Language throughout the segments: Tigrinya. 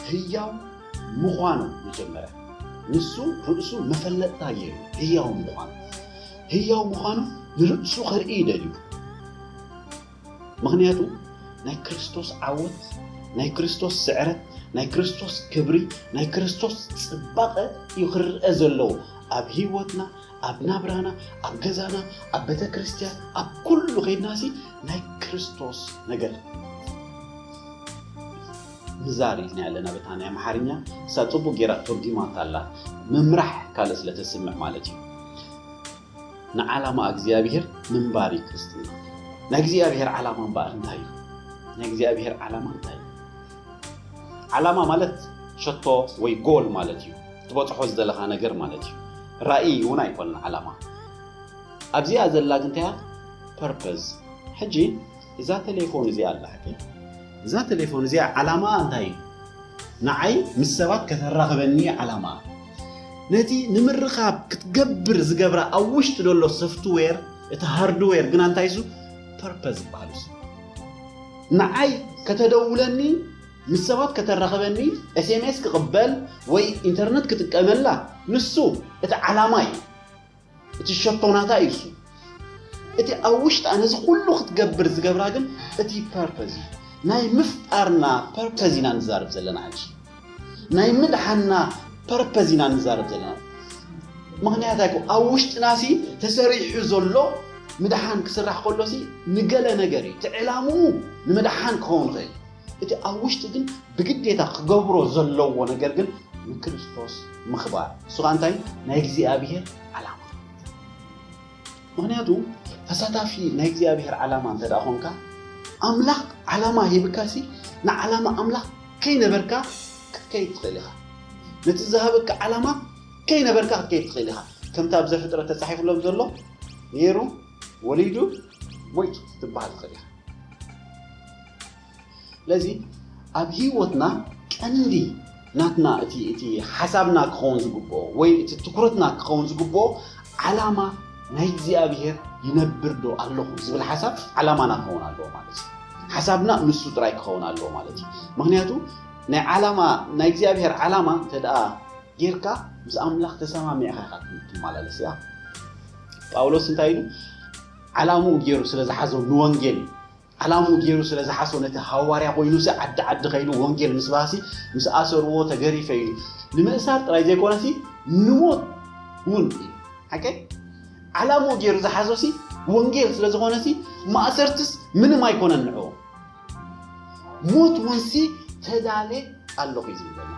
ህያው ምዃኑ መጀመርያ ንሱ ርእሱ መፈለጥታ ገይሩ ህያው ምዃኑ ህያው ምዃኑ ንርእሱ ከርኢ ደልዩ ምኽንያቱ ናይ ክርስቶስ ዓወት ናይ ክርስቶስ ስዕረት ናይ ክርስቶስ ክብሪ ናይ ክርስቶስ ጽባቐ እዩ ክርአ ዘለዎ ኣብ ህይወትና ኣብ ናብራና ኣብ ገዛና ኣብ ቤተ ክርስቲያን ኣብ ኩሉ ከይድና ሲ ናይ ክርስቶስ ነገር ምዛር ኢልና ኣለና በታ ናይ ኣምሓርኛ እሳ ፅቡቅ ጌራ ተርጊማታ ኣላ ምምራሕ ካልእ ስለ ተስምዕ ማለት እዩ ንዓላማ እግዚኣብሔር ምንባር እዩ ክርስትና። ናይ እግዚኣብሔር ዓላማ እምበኣር እንታይ እዩ? ናይ እግዚኣብሔር ዓላማ እንታይ እዩ? ዓላማ ማለት ሸቶ ወይ ጎል ማለት እዩ። ትበፅሖ ዝደለኻ ነገር ማለት እዩ። ራእይ እውን ኣይኮነን ዓላማ። ኣብዚኣ ዘላ ግንታያ ፐርፐዝ። ሕጂ እዛ ተሌፎን እዚኣ ኣላትኒ እዛ ተሌፎን እዚኣ ዓላማኣ እንታይ እዩ? ንዓይ ምስ ሰባት ከተራኽበኒ እዩ ዓላማኣ። ነቲ ንምርኻብ ክትገብር ዝገብራ ኣብ ውሽጢ ዘሎ ሶፍትዌር እቲ ሃርድዌር ግና እንታይ እሱ ፐርፐዝ ዝበሃል እሱ ንዓይ ከተደውለኒ ምስ ሰባት ከተራኽበኒ ኤስኤምኤስ ክቕበል ወይ ኢንተርነት ክጥቀመላ ንሱ እቲ ዓላማ እዩ። እቲ ሸቶ ናታ እዩ እሱ እቲ ኣብ ውሽጣ ነዚ ኩሉ ክትገብር ዝገብራ ግን እቲ ፐርፐዝ እዩ ናይ ምፍጣርና ፐርፐዝ ኢና ንዛረብ ዘለና ሕጂ ናይ ምድሓና ፐርፐዝ ኢና ንዛረብ ዘለና ምክንያት ኣይኮ ኣብ ውሽጥና ሲ ተሰሪሑ ዘሎ ምድሓን ክስራሕ ከሎ ሲ ንገለ ነገር እዩ እቲ ዕላምኡ ንምድሓን ክኸውን ይኽእል እቲ ኣብ ውሽጢ ግን ብግዴታ ክገብሮ ዘለዎ ነገር ግን ንክርስቶስ ምኽባር እሱ ከዓ እንታይ ናይ እግዚኣብሔር ዓላማ ምክንያቱ ተሳታፊ ናይ እግዚኣብሔር ዓላማ እንተ ኮንካ ኣምላኽ ዓላማ ሂብካሲ ንዓላማ ኣምላኽ ከይነበርካ ክትከይድ ትኽእል ኢኻ ነቲ ዝሃበካ ዓላማ ከይነበርካ ክትከይድ ትኽእል ኢኻ ከምቲ ኣብ ዘፍጥረት ተፃሒፍሎም ዘሎ ነይሩ ወሊዱ ሞይት ክትበሃል ትኽእል ኢኻ። ስለዚ ኣብ ህይወትና ቀንዲ ናትና እቲ እቲ ሓሳብና ክኸውን ዝግብኦ ወይ እቲ ትኩረትና ክኸውን ዝግብኦ ዓላማ ናይ እግዚኣብሄር ይነብር ዶ ኣለኹ ዝብል ሓሳብ ዓላማና ክኸውን ኣለዎ ማለት እዩ። ሓሳብና ንሱ ጥራይ ክኸውን ኣለዎ ማለት እዩ። ምክንያቱ ናይ ዓላማ ናይ እግዚኣብሄር ዓላማ እንተ ጌርካ ምስ ኣምላኽ ተሰማሚዕኻ ኢኻ ትመላለስ እያ ጳውሎስ እንታይ ኢሉ ዓላምኡ ገይሩ ስለ ዝሓዞ ንወንጌል እዩ ዓላምኡ ገይሩ ስለ ዝሓሶ ነቲ ሃዋርያ ኮይኑሲ ዓዲ ዓዲ ከይዱ ወንጌል ምስ ባሲ ምስ ኣሰርዎ ተገሪፈ እዩ ንምእሳር ጥራይ ዘይኮነሲ ንሞት እውን እዩ ሓቂ ዓላምኡ ገይሩ ዝሓዞሲ ወንጌል ስለ ዝኾነሲ ማእሰርትስ ምንም ኣይኮነን ንዕኡ ሞት ውንሲ ተዳሌ ኣለኹ እዩ ዝብለና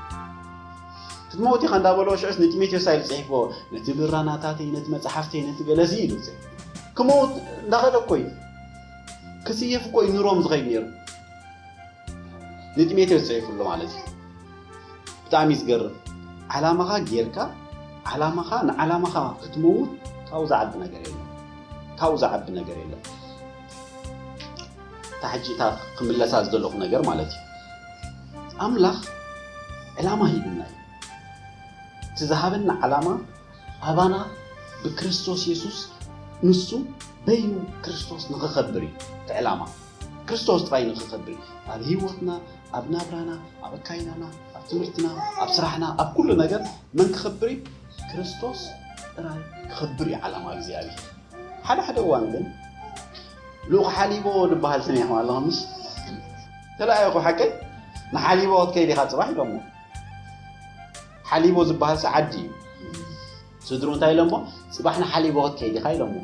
ክትመውት ኢኻ እንዳበለዎ ሽዑስ ንጢሞቴዎስ ኣይሉ ፅሒፍዎ ነቲ ብራናታተይ ነቲ መፅሓፍተይ ነቲ ገለዚ ኢሉ ክመውት እንዳኸደ እኮ እዩ ክስየፍ እኮ እዩ ንሮም ዝኸይድ ነይሩ ንጢሞቴዎስ ፅሒፍሉ ማለት እዩ ብጣዕሚ ዝገርም ዓላማኻ ጌርካ ዓላማኻ ንዓላማኻ ክትመውት ካብኡ ዝዓቢ ነገር የለን ካብኡ ዝዓቢ ነገር የለን እታ ሕጂ እታ ክምለሳ ዝደለኹ ነገር ማለት እዩ ኣምላኽ ዕላማ ሂብና እዩ እቲ ዝሃበና ዓላማ ኣባና ብክርስቶስ የሱስ ንሱ በይኑ ክርስቶስ ንኽኸብር እዩ እቲ ዕላማ ክርስቶስ ጥራይ ንኽኸብር እዩ ኣብ ህይወትና ኣብ ናብራና ኣብ ኣካይዳና ኣብ ትምህርትና ኣብ ስራሕና ኣብ ኩሉ ነገር መን ክኸብር እዩ ክርስቶስ ጥራይ ክኸብር እዩ ዓላማ እግዚኣብሔር ሓደ ሓደ እዋን ግን ልኡኽ ሓሊቦ ዝበሃል ሰሚዕኹም ኣለኹምስ ተለኣየኹ ሓቀይ ንሓሊቦ ክትከይድ ኢኻ ፅባሕ ኢሎሞ ሓሊቦ ዝበሃል ሰዓዲ እዩ ስድሩ እንታይ ኢሎሞ ፅባሕ ንሓሊቦ ክትከይድ ኢኻ ኢሎሞ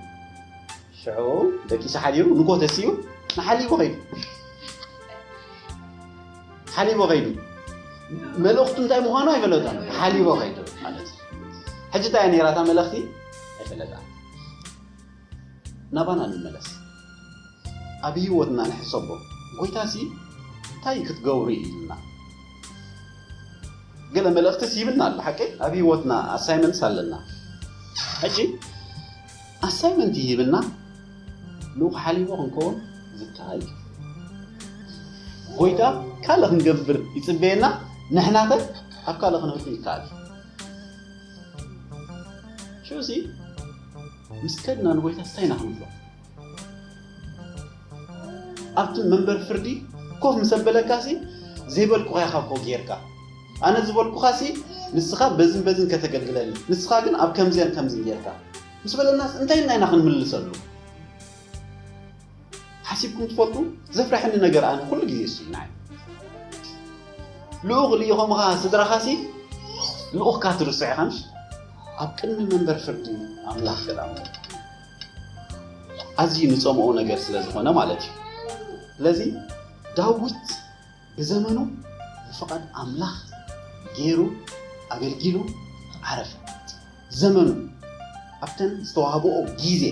ሽዑ ደቂሱ ሓዲሩ ንጎ ተሲኡ ንሓሊቦ ከይዱ ሓሊቦ ከይዱ መልእኽቱ እንታይ ምዃኑ ኣይፈለጦን ሓሊቦ ከይዱ ማለት ሕጂ እንታይ ነይራ እታ መልእኽቲ ኣይፈለጣ ናባና ንመለስ ኣብ ህይወትና ንሕሰቦ ጎይታ ሲ እንታይ ክትገብሩ ኢሉና ገለ መልእኽቲ ሲብና ኣሎ ሓቂ ኣብ ህይወትና ኣሳይመንትስ ኣለና ሕጂ ኣሳይመንት ይህብና ልኡኽ ሓሊቦ ክንከውን ዝከኣል እዩ። ጎይታ ካልእ ክንገብር ይጽበየና ንሕናኸ ኣብ ካልእ ክንህሉ ይከኣል እዩ። ሽዑሲ ምስ ከድና ንጎይታ እንታይ ኢና ክንብሎ? ኣብቲ መንበር ፍርዲ ኮፍ ምስ ኣበለካሲ ዘይበልኩኻያ ካብ ኮ ጌርካ ኣነ ዝበልኩኻሲ ንስኻ በዝን በዝን ከተገልግለኒ ንስኻ ግን ኣብ ከምዝን ከምዝን ጌርካ ምስ በለናስ እንታይ ኢልና ኢና ክንምልሰሉ ሓሲብኩም ትፈልጡ ዘፍረሐኒ ነገር ኣነ ኩሉ ግዜ እሱ እዩ ንዓይ ልኡኽ ልኢኾምኻ ስድራኻሲ ልኡኽካ ትርስዕ ኢኻ ምሽ ኣብ ቅድሚ መንበር ፍርዲ ኣምላኽ ገዳሙ ኣዝዩ ንጸምኦ ነገር ስለ ዝኾነ ማለት እዩ ስለዚ ዳዊት ብዘመኑ ብፍቓድ ኣምላኽ ገይሩ ኣገልጊሉ ዓረፈ። ዘመኑ ኣብተን ዝተዋህበኦ ግዜ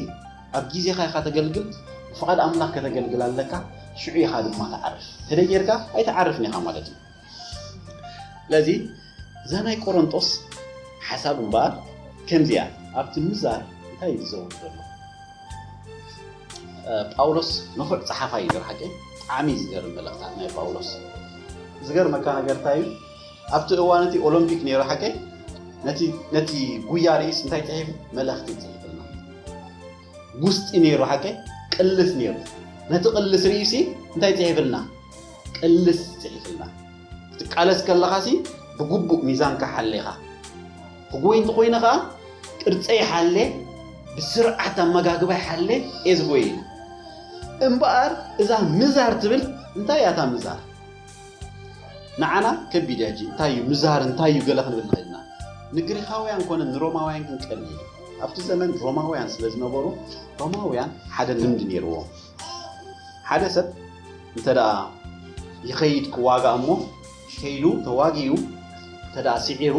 ኣብ ግዜኻ ኢኻ ተገልግል ብፍቓድ ኣምላኽ ከተገልግል ኣለካ ሽዑ ኢኻ ድማ ትዓርፍ ተደይ ጌርካ ኣይትዓርፍን ኢኻ ማለት እዩ ስለዚ እዛ ናይ ቆሮንጦስ ሓሳብ እምበኣር ከምዚ እያ፣ ኣብቲ ምዛር እንታይ እዩ ዝዘውር ዘሎ? ጳውሎስ ንፉዕ ጸሓፋይ እዩ ብሓቂ ብጣዕሚ ዝገርም መልእኽታት ናይ ጳውሎስ ዝገርመካ ነገር እንታይ እዩ ኣብቲ እዋን እቲ ኦሎምፒክ ነይሩ ሓቂ ነቲ ጉያ ርእስ እንታይ ጽሒፉ መልእኽቲ ጽሒፉልና ውስጢ ነይሩ ሓቀይ ቅልስ ነይሩ ነቲ ቅልስ ርእዩሲ እንታይ ጽሒፍልና ቅልስ ጽሒፍልና ክትቃለስ ከለኻሲ ብግቡእ ሚዛንካ ሓሌኻ ክጎይ እንተኾይነ ከዓ ቅርፀይ ሓሌ ብስርዓት ኣመጋግባይ ሓሌ እየ ዝጎየ እምበኣር እዛ ምዛር ትብል እንታይ እያ እታ ምዛር ንዓና ከቢድ እያ ሕጂ እንታይ እዩ ምዝሃር እንታይ እዩ ገለ ክንብል ንኽእል ኢና ንግሪኻውያን ኮነ ንሮማውያን ግን ቀሊል እዩ ኣብቲ ዘመን ሮማውያን ስለ ዝነበሩ ሮማውያን ሓደ ልምዲ ነይርዎም ሓደ ሰብ እንተ ይኸይድ ክዋጋእ እሞ ከይዱ ተዋጊኡ እንተ ስዒሩ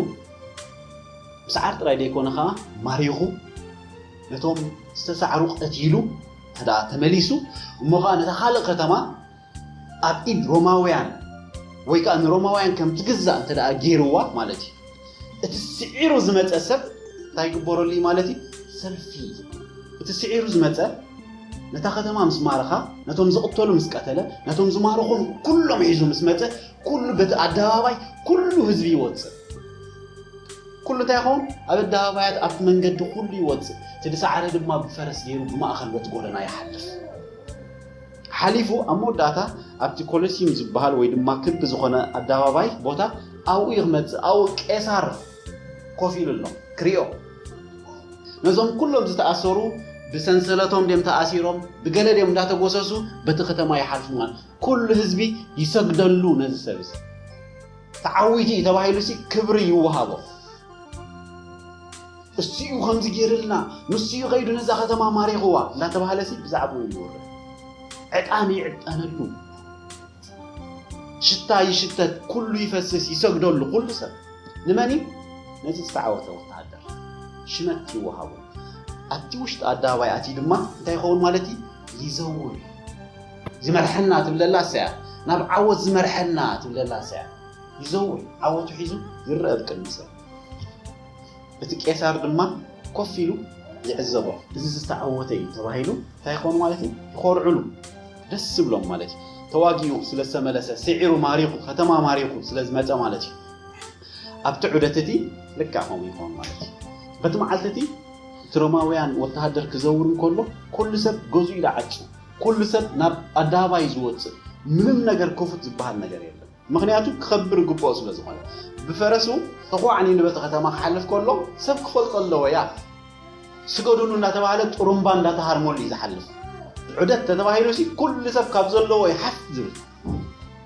ምስዓር ጥራይ ዘይኮነ ከዓ ማሪኹ ነቶም ዝተሳዕሩ ቀቲሉ እንተ ተመሊሱ እሞ ከዓ ነታ ካልእ ከተማ ኣብ ኢድ ሮማውያን ወይ ከኣ ንሮማውያን ከም ትግዛእ እንተ ደኣ ገይርዋ ማለት እዩ፣ እቲ ስዒሩ ዝመጸ ሰብ እንታይ ይግበረሉ እዩ ማለት እዩ? ሰልፊ እቲ ስዒሩ ዝመጸ ነታ ከተማ ምስ ማረኻ፣ ነቶም ዝቕተሉ ምስ ቀተለ፣ ነቶም ዝማረኾም ኩሎም ሒዙ ምስ መጸ፣ ኩሉ በቲ ኣደባባይ ኩሉ ህዝቢ ይወጽእ። ኩሉ እንታይ ይኸውን? ኣብ ኣደባባያት ኣብቲ መንገዲ ኩሉ ይወጽእ፣ እቲ ዝሰዓረ ድማ ብፈረስ ገይሩ ብማእከል በቲ ጎደና ይሓልፍ። ሓሊፉ ኣብ መወዳእታ ኣብቲ ኮለሲዩም ዝበሃል ወይ ድማ ክቢ ዝኾነ ኣዳባባይ ቦታ ኣብኡ እዩ ክመጽእ ኣብኡ ቄሳር ኮፍ ኢሉ ኣሎ ክሪኦ ነዞም ኩሎም ዝተኣሰሩ ብሰንሰለቶም ድም ተኣሲሮም ብገለ ድም እንዳተጎሰሱ በቲ ከተማ ይሓልፉ ማለት ኩሉ ህዝቢ ይሰግደሉ ነዚ ሰብ እዚ ተዓዊቲ እዩ ተባሂሉ ሲ ክብሪ ይወሃቦ እሱ'ዩ ከምዚ ገይርልና፣ ንሱ'ዩ ከይዱ ነዛ ከተማ ማሪኽዋ እንዳተባህለሲ ብዛዕብኡ ይውረ። ዕጣን ይዕጠነሉ፣ ሽታ ይሽተት፣ ኩሉ ይፈስስ፣ ይሰግደሉ ኩሉ ሰብ። ንመን እዩ? ነቲ ዝተዓወተ ወተሃደር ሽመት ይወሃቦ። ኣብቲ ውሽጢ ኣደባባይ ኣትዩ ድማ እንታይ ይኸውን ማለት እዩ? ይዘውር። ዝመርሐና ትብለላ እሳያ፣ ናብ ዓወት ዝመርሐና ትብለላ እሳያ። ይዘውር፣ ዓወቱ ሒዙ ይረኣ ብቅድሚ ሰብ። እቲ ቄሳር ድማ ኮፍ ኢሉ ይዕዘቦ። እዚ ዝተዓወተ እዩ ተባሂሉ እንታይ ይኾኑ ማለት እዩ? ይኾርዕሉ፣ ደስ ይብሎም ማለት እዩ። ተዋጊኡ ስለ ዝተመለሰ፣ ስዒሩ ማሪኹ፣ ከተማ ማሪኹ ስለ ዝመጸ ማለት እዩ። ኣብቲ ዑደት እቲ ልክዕ ከምኡ ይኾኑ ማለት እዩ። በቲ መዓልቲ እቲ እቲ ሮማውያን ወተሃደር ክዘውር እንከሎ ኩሉ ሰብ ገዝኡ ይዓጹ፣ ኩሉ ሰብ ናብ ኣደባባይ እዩ ዝወጽእ፣ ምንም ነገር ክፉት ዝበሃል ነገር የለን። ምኽንያቱ ክኸብር ይግብኦ ስለ ዝኾነ። ብፈረሱ ጥቑዕ ኒንበቲ ከተማ ክሓልፍ ከሎ ሰብ ክፈልጦ ኣለዎ ያእ ስገዱሉ እንዳተባህለ ጥሩምባ እንዳተሃርመሉ እዩ ዝሓልፍ። ዑደት ተተባሂሉሲ ኩሉ ሰብ ካብ ዘለዎ እዩ ሓፍ ዝብል።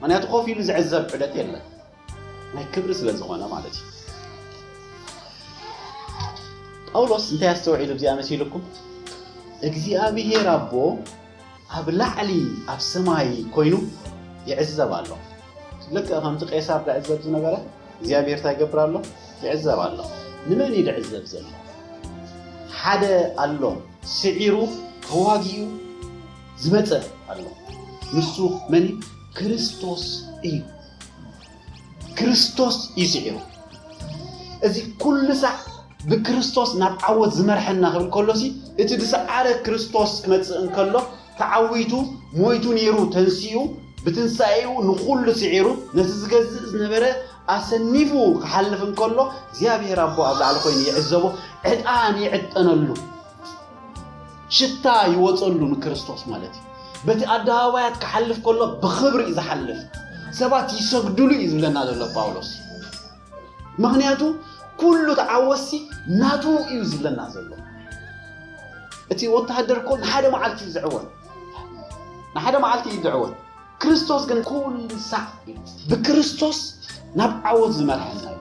ምኽንያቱ ኮፍ ኢሉ ዝዕዘብ ዑደት የለን ናይ ክብሪ ስለ ዝኾነ ማለት እዩ። ጳውሎስ እንታይ ኣስተውዒሉ ብዚኣ መሲልኩም እግዚኣብሄር ኣቦ ኣብ ላዕሊ ኣብ ሰማይ ኮይኑ ይዕዘብ ኣሎ። ልክዕ ከምቲ ቄሳር ዝዕዘብ ዝነበረ እግዚኣብሔር እንታይ ይገብር ኣሎ? ይዕዘብ ኣሎ። ንመን እዩ ዝዕዘብ ዘሎ? ሓደ ኣሎ ስዒሩ ተዋጊኡ ዝመፀ ኣሎ። ንሱ መን እዩ? ክርስቶስ እዩ። ክርስቶስ እዩ ስዒሩ። እዚ ኩሉ ሳዕ ብክርስቶስ ናብ ዓወት ዝመርሐና ክብል ከሎሲ እቲ ዝሰዓረ ክርስቶስ ክመጽእ እንከሎ ተዓዊቱ ሞይቱ ነይሩ ተንሲኡ ብትንሳኤኡ ንኹሉ ስዒሩ ነቲ ዝገዝእ ዝነበረ ኣሰኒፉ ክሓልፍ እንከሎ እግዚኣብሔር ኣቦ ኣብ ላዕሊ ኮይኑ ይዕዘቦ ዕጣን ይዕጠነሉ ሽታ ይወፀሉ ንክርስቶስ ማለት እዩ በቲ ኣደባባያት ክሓልፍ ከሎ ብኽብሪ እዩ ዝሓልፍ ሰባት ይሰግድሉ እዩ ዝብለና ዘሎ ጳውሎስ ምክንያቱ ኩሉ ተዓወሲ ናቱ እዩ ዝብለና ዘሎ እቲ ወተሃደር እኮ ንሓደ መዓልቲ እዩ ዝዕወት ንሓደ መዓልቲ እዩ ዝዕወት ክርስቶስ ግን ኩሉ ሳዕ ብክርስቶስ ናብ ዓወት ዝመርሐና እዩ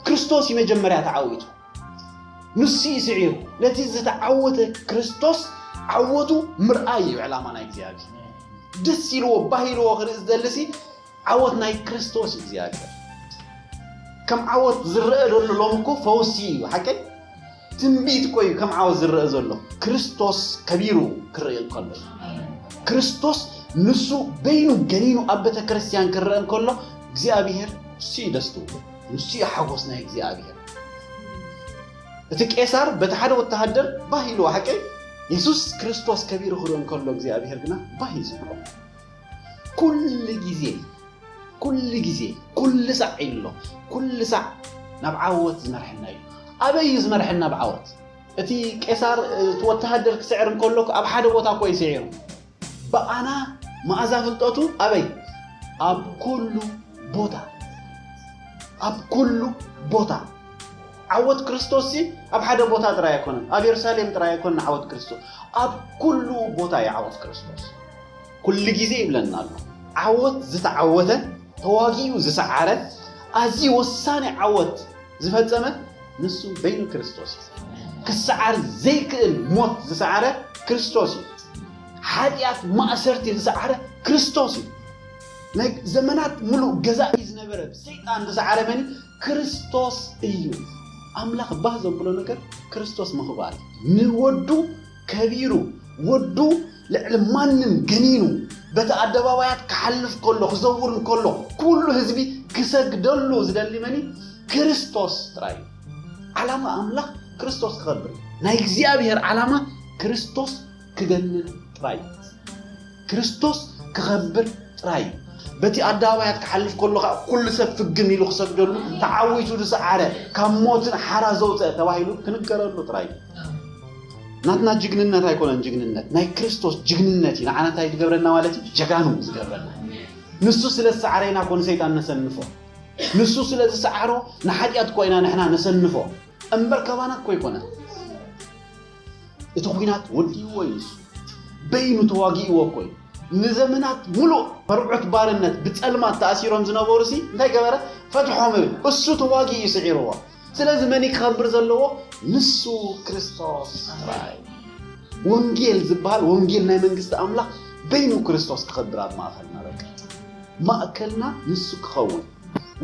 ክርስቶስ እዩ መጀመርያ ተዓዊቱ ንሱ እዩ ስዒሩ ነቲ ዝተዓወተ ክርስቶስ ዓወቱ ምርኣይ እዩ ዕላማ ናይ እግዚኣብሔር ደስ ኢልዎ ባህ ኢልዎ ክርኢ ዝደልሲ ዓወት ናይ ክርስቶስ እዩ እግዚኣብሔር ከም ዓወት ዝረአ ዘሎ ሎም እኮ ፈውሲ እዩ ሓቀይ ትንቢት እኮ እዩ ከም ዓወት ዝረአ ዘሎ ክርስቶስ ከቢሩ ክርኢ እንከሎ ክርስቶስ ንሱ በይኑ ገኒኑ ኣብ ቤተ ክርስቲያን ክረአ እንከሎ እግዚኣብሔር እሱ እዩ ደስ ትብሉ ንሱ እዩ ሓጎስ ናይ እግዚኣብሔር። እቲ ቄሳር በቲ ሓደ ወተሃደር ባህ ኢልዎ ሓቂ የሱስ ክርስቶስ ከቢሩ ክርኢ እንከሎ እግዚኣብሔር ግና ባህ እዩ ዝብሎ ኩሉ ግዜ ኩሉ ግዜ ኩሉ ሳዕ ኢሉ ኣሎ ኩሉ ሳዕ ናብ ዓወት ዝመርሐና እዩ ኣበይ እዩ ዝመርሐና ኣብ ዓወት እቲ ቄሳር እቲ ወተሃደር ክስዕር እንከሎ ኣብ ሓደ ቦታ እኮ እዩ ስዒሩ ብኣና መኣዛ ፍልጠቱ ኣበይ ኣብ ኩሉ ቦታ ኣብ ኩሉ ቦታ ዓወት ክርስቶስሲ ኣብ ሓደ ቦታ ጥራይ ኣይኮነን ኣብ የሩሳሌም ጥራይ ኣይኮነን ዓወት ክርስቶስ ኣብ ኩሉ ቦታ እዩ ዓወት ክርስቶስ ኩሉ ግዜ ይብለና ኣሎ ዓወት ዝተዓወተ ተዋጊኡ ዝሰዓረ ኣዝዩ ወሳኒ ዓወት ዝፈጸመ ንሱ በይኑ ክርስቶስ እዩ። ክሰዓር ዘይክእል ሞት ዝሰዓረ ክርስቶስ እዩ። ሓጢኣት ማእሰርቲ ዝሰዓረ ክርስቶስ እዩ። ናይ ዘመናት ምሉእ ገዛኢ ዝነበረ ሰይጣን ዝሰዓረ መን ክርስቶስ እዩ። ኣምላኽ ባህ ዘብሎ ነገር ክርስቶስ ምኽባር ንወዱ ከቢሩ ወዱ ልዕሊ ማንም ገኒኑ በቲ ኣደባባያት ክሓልፍ ከሎ ክዘውር እንከሎ ኩሉ ህዝቢ ክሰግደሉ ዝደሊ መን እዩ? ክርስቶስ ጥራይ እዩ። ዓላማ ኣምላኽ ክርስቶስ ክኸብር እዩ። ናይ እግዚኣብሔር ዓላማ ክርስቶስ ክገንን ጥራይ እዩ። ክርስቶስ ክኸብር ጥራይ እዩ። በቲ ኣደባባያት ክሓልፍ ከሎ ከኣ ኩሉ ሰብ ፍግም ኢሉ ክሰግደሉ ተዓዊቱ ዝሰዓረ ካብ ሞትን ሓራ ዘውፀ ተባሂሉ ክንገረሉ ጥራይ እዩ። ናትና ጅግንነት ኣይኮነን ጅግንነት ናይ ክርስቶስ ጅግንነት እዩ ንዓና እንታይ ዝገብረና ማለት እዩ ጀጋኑ ዝገብረና ንሱ ስለ ዝሰዓረ ኢና ኮ ንሰይጣን ነሰንፎ ንሱ ስለ ዝሰዓሮ ንሓጢኣት እኮ ኢና ንሕና ነሰንፎ እምበር ካባና እኮ ኣይኮነን እቲ ኹናት ወዲእዎ እዩ ንሱ በይኑ ተዋጊእዎ እኮ እዩ ንዘመናት ሙሉእ መርዑት ባርነት ብፀልማት ተኣሲሮም ዝነበሩ ሲ እንታይ ገበረ ፈትሖም ብል እሱ ተዋጊ እዩ ስዒርዎ ስለዚ መን ክኸብር ዘለዎ ንሱ ክርስቶስ ጥራይ ወንጌል ዝበሃል ወንጌል ናይ መንግስቲ ኣምላኽ በይኑ ክርስቶስ ክኸብር ኣብ ማእኸልና በቃ ማእከልና ንሱ ክኸውን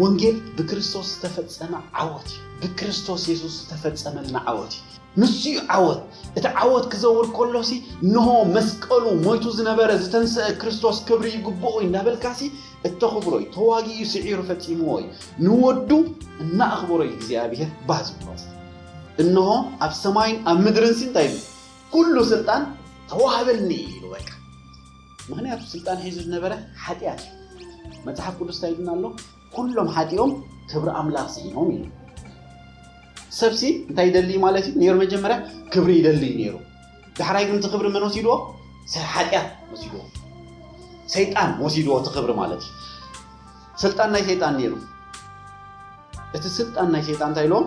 ወንጌል ብክርስቶስ ዝተፈፀመ ዓወት እዩ ብክርስቶስ የሱስ ዝተፈፀመልና ዓወት እዩ ንሱ'ዩ ዓወት። እቲ ዓወት ክዘውር ከሎሲ እንሆ መስቀሉ ሞይቱ ዝነበረ ዝተንሰኣ ክርስቶስ ክብሪ ይግብኦ'ዩ እንዳበልካሲ እተኽብሮ'ዩ። ተዋጊኡ ስዒሩ ፈጺምዎ'ዩ። ንወዱ እናኣኽበሮ'ዩ እግዚኣብሄር ባህ ዝብሎስ። እንሆ ኣብ ሰማይን ኣብ ምድርንሲ እንታይ ኢሉ ኩሉ ስልጣን ተዋህበኒ ኢሉ በቃ። ምኽንያቱ ስልጣን ሒዙ ዝነበረ ሓጢኣት'ዩ። መጽሓፍ ቅዱስ እንታይ ኢሉና ኣሎ? ኩሎም ሓጢኦም ክብሪ ኣምላኽ ስኢኖም ኢሉ። ሰብሲ እንታይ ይደሊ ማለት እዩ ነይሩ? መጀመርያ ክብሪ ይደሊ እዩ ነይሩ። ዳሕራይ ግን እቲ ክብሪ መን ወሲድዎ? ሓጢኣት ወሲድዎ፣ ሰይጣን ወሲድዎ እቲ ክብሪ ማለት እዩ። ስልጣን ናይ ሰይጣን ነይሩ። እቲ ስልጣን ናይ ሰይጣን እንታይ ኢልዎም?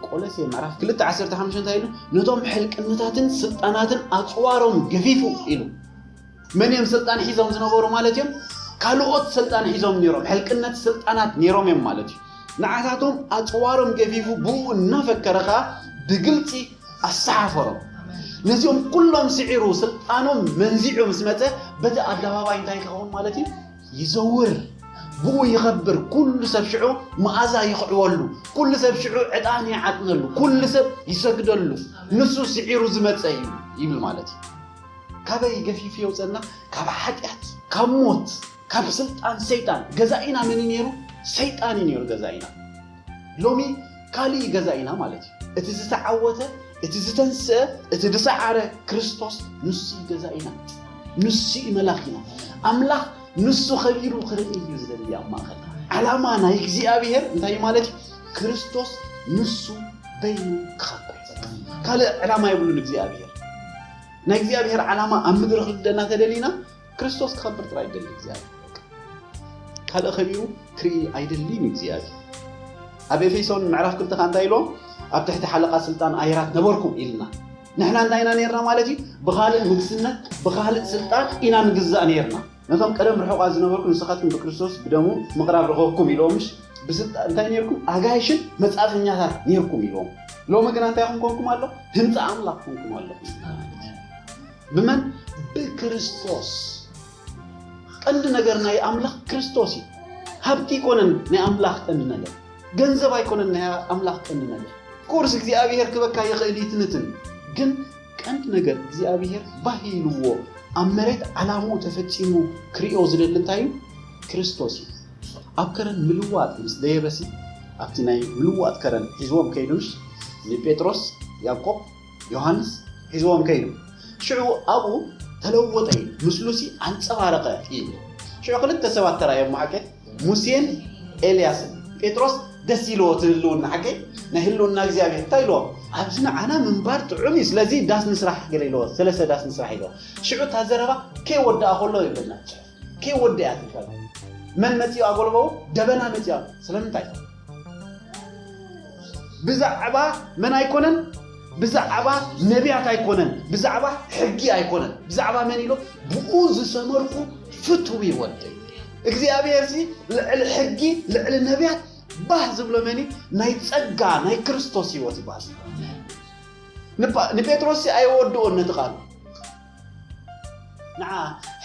ቆለሴ ምዕራፍ ክልተ ዓሰርተ ሓሙሽተ እንታይ ኢሉ? ነቶም ሕልቅነታትን ስልጣናትን ኣፅዋሮም ገፊፉ ኢሉ መን እዮም ስልጣን ሒዞም ዝነበሩ ማለት እዮም? ካልኦት ስልጣን ሒዞም ነይሮም፣ ሕልቅነት ስልጣናት ነይሮም እዮም ማለት እዩ። ንዓታቶም ኣጽዋሮም ገፊፉ ብኡ እናፈከረ ከኣ ብግልጺ ኣሰሓፈሮም። ነዚኦም ኩሎም ስዒሩ ስልጣኖም መንዚዑ ምስ መጸ በቲ ኣደባባይ እንታይ ክኸውን ማለት እዩ? ይዘውር፣ ብኡ ይኸብር፣ ኩሉ ሰብ ሽዑ መኣዛ ይኽዕወሉ፣ ኩሉ ሰብ ሽዑ ዕጣን ይዓጥነሉ፣ ኩሉ ሰብ ይሰግደሉ፣ ንሱ ስዒሩ ዝመጸ እዩ ይብል ማለት እዩ። ካበይ ገፊፉ የውፀና ካብ ሓጢኣት ካብ ሞት ካብ ስልጣን ሰይጣን ገዛኢና መን ነይሩ ሰይጣን እዩ ነይሩ ገዛኢና ሎሚ ካልእ እዩ ገዛኢና ማለት እዩ እቲ ዝተዓወተ እቲ ዝተንስአ እቲ ዝሰዓረ ክርስቶስ ንሱ ገዛኢና ንሱ እዩ መላኺና ኣምላኽ ንሱ ከቢሩ ክርኢ እዩ ዝደሊ ኣብ ማእኸል ዓላማ ናይ እግዚኣብሄር እንታይ እዩ ማለት እዩ ክርስቶስ ንሱ በይኑ ክኸብር ካልእ ዕላማ የብሉን እግዚኣብሄር ናይ እግዚኣብሔር ዓላማ ኣብ ምድሪ ክልደና ተደሊና ክርስቶስ ክኸብር ጥራይ ይደሊ እግዚኣብሔር ካልእ ከቢሩ ክርኢ ኣይደሊን እግዚኣብሔር ኣብ ኤፌሶን ምዕራፍ ክልተ ከዓ እንታይ ኢሎ ኣብ ትሕቲ ሓለቓ ስልጣን ኣየራት ነበርኩ ኢልና ንሕና እንታይ ኢና ነርና ማለት እዩ ብኻልእ ንግስነት ብኻልእ ስልጣን ኢና ንግዛእ ነርና ነቶም ቀደም ርሑቓት ዝነበርኩ ንስኻትኩም ብክርስቶስ ብደሙ ምቕራብ ረኸብኩም ኢሎምሽ ብስልጣ እንታይ ኔርኩም ኣጋይሽን መጻተኛታት ኔርኩም ኢሎም ሎሚ ግና እንታይ ኹም ኮንኩም ኣሎ ህንጻ ኣምላኽ ኮንኩም ኣሎ ብመን ብክርስቶስ ቀንዲ ነገር ናይ ኣምላኽ ክርስቶስ እዩ ሃብቲ ኣይኮነን ናይ ኣምላኽ ቀንዲ ነገር ገንዘብ ኣይኮነን ናይ ኣምላኽ ቀንዲ ነገር ቁርስ እግዚኣብሔር ክበካ ይኽእል ይትንትን ግን ቀንዲ ነገር እግዚኣብሄር ባህ ኢልዎ ኣብ መሬት ዓላምኡ ተፈጺሙ ክርእዮ ዝደሊ እንታይ እዩ? ክርስቶስ እዩ። ኣብ ከረን ምልዋጥ ምስ ደየበሲ ኣብቲ ናይ ምልዋጥ ከረን ሒዝዎም ከይዱ ምሽ ንጴጥሮስ ያዕቆብ ዮሃንስ ሒዝዎም ከይዱ ሽዑ ኣብኡ ተለወጠ እዩ ምስሉሲ ኣንጸባረቐ እዩ ሽዑ ክልተ ሰባት ተራእዮም መዓልቲ ሙሴን ኤልያስን ጴጥሮስ ደስ ኢልዎ እቲ ህልውና ሓቀይ ናይ ህልውና እግዚኣብሔር እንታይ ኢልዎ ኣብዚ ንዓና ምንባር ጥዑም እዩ ስለዚ ዳስ ንስራሕ ገለ ኢልዎ ሰለስተ ዳስ ንስራሕ ኢልዎ ሽዑ እታ ዘረባ ከይወድኣ ከሎ ይብለና ፅሑፍ ከይወድኣ ትፈል መን መፂኡ ኣጎልበቡ ደበና መፂኡ ስለምንታይ ብዛዕባ መን ኣይኮነን ብዛዕባ ነቢያት ኣይኮነን ብዛዕባ ሕጊ ኣይኮነን ብዛዕባ መን ኢሎ ብኡ ዝሰመርኩ ፍትዊ ወደይ እግዚኣብሔር ሲ ልዕሊ ሕጊ ልዕሊ ነቢያት ባህ ዝብሎ መን ናይ ጸጋ ናይ ክርስቶስ ህይወት ይባል ንጴጥሮስ ሲ ኣየወድኦን ነቲ ቃሉ ንዓ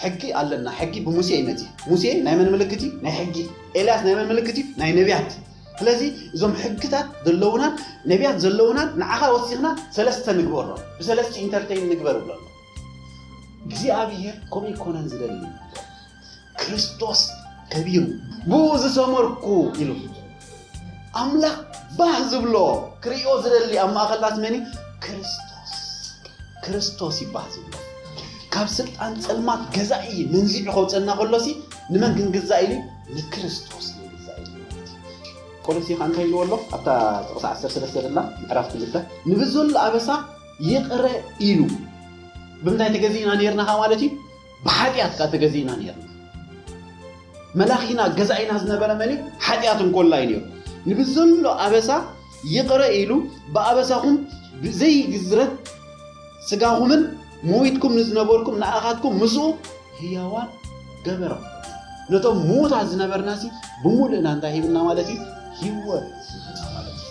ሕጊ ኣለና ሕጊ ብሙሴ እዩ መጺ ሙሴ ናይ መን ምልክት እዩ ናይ ሕጊ ኤልያስ ናይ መን ምልክት እዩ ናይ ነቢያት ስለዚ እዞም ሕግታት ዘለውናን ነቢያት ዘለውናን ንዓኻ ወሲኽና ሰለስተ ንግበሮ ብሰለስቲ ኢንተርቴይን ንግበር ብሎ እግዚኣብሔር ከምኡ ይኮነን ዝደሊ ክርስቶስ ከቢሩ ብኡ ዝሰመርኩ ኢሉ ኣምላኽ ባህ ዝብሎ ክርእዮ ዝደሊ ኣብ ማእኸልናት መን እዩ ክርስቶስ ክርስቶስ እዩ ባህ ዝብሎ ካብ ስልጣን ፀልማት ገዛኢ መንዚዑ ከውፀና ከሎሲ ንመን ክንግዛእ ኢሉ ንክርስቶስ ንግዛእ ኢሉ ማለት እዩ ቆሎሲ ከዓ እንታይ ኢልዎ ኣሎ ኣብታ ጥቕሲ 13 ደላ ምዕራፍ ክልተ ንብዘሎ ኣበሳ ይቕረ ኢሉ ብምንታይ ተገዚእና ነርና ማለት እዩ ብሓጢኣት ከኣ ተገዚእና ኔርና። መላኺና፣ ገዛኢና ዝነበረ መን እዩ? ሓጢኣት እንኮላይ ኔሩ። ንብዘሎ ኣበሳ ይቕረ ኢሉ፣ ብኣበሳኹም ብዘይግዝረት ስጋኹምን ሞይትኩም ንዝነበርኩም ንኣኻትኩም ምስኡ ህያዋን ገበሮም። ነቶም ምዉታት ዝነበርናሲ ብምሉእና እንታይ ሂብና ማለት እዩ? ህይወት ሂብና ማለት እዩ።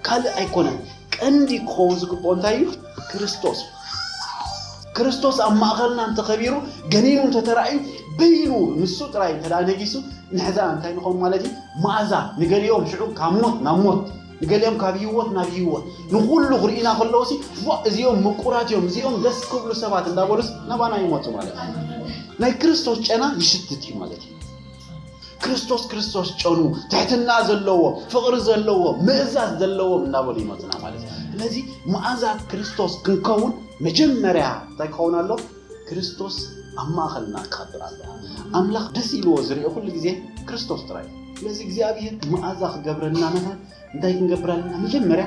ካልእ ኣይኮነን ቀንዲ ክኸውን ዝግብኦ እንታይ እዩ ክርስቶስ ክርስቶስ ኣብ ማእኸልና እንተኸቢሩ ገኒኑ እንተተራእዩ በይኑ ንሱ ጥራይ እንተ ነጊሱ ንሕዛ እንታይ ንኾን ማለት እዩ መኣዛ ንገሊኦም ሽዑ ካብ ሞት ናብ ሞት ንገሊኦም ካብ ህይወት ናብ ህይወት ንኩሉ ክርኢና ከለዎ ሲ እዚኦም ምቁራት እዮም እዚኦም ደስ ክብሉ ሰባት እንዳበሉስ ናባና ይመፁ ማለት እዩ ናይ ክርስቶስ ጨና ይሽትት እዩ ማለት እዩ ክርስቶስ ክርስቶስ ጨኑ ትሕትና ዘለዎ ፍቕሪ ዘለዎ ምእዛዝ ዘለዎ እናበሉ ይመፁና ማለት እዩ ስለዚ መኣዛት ክርስቶስ ክንከውን መጀመርያ እንታይ ክኸውን ኣሎ ክርስቶስ ኣብ ማእኸልና ክኸብር ኣሎ ኣምላኽ ደስ ኢልዎ ዝርኦ ኩሉ ግዜ ክርስቶስ ጥራይ እዩ ስለዚ እግዚኣብሄር መኣዛ ክገብረልና ንኸ እንታይ ክንገብር ኣለና መጀመርያ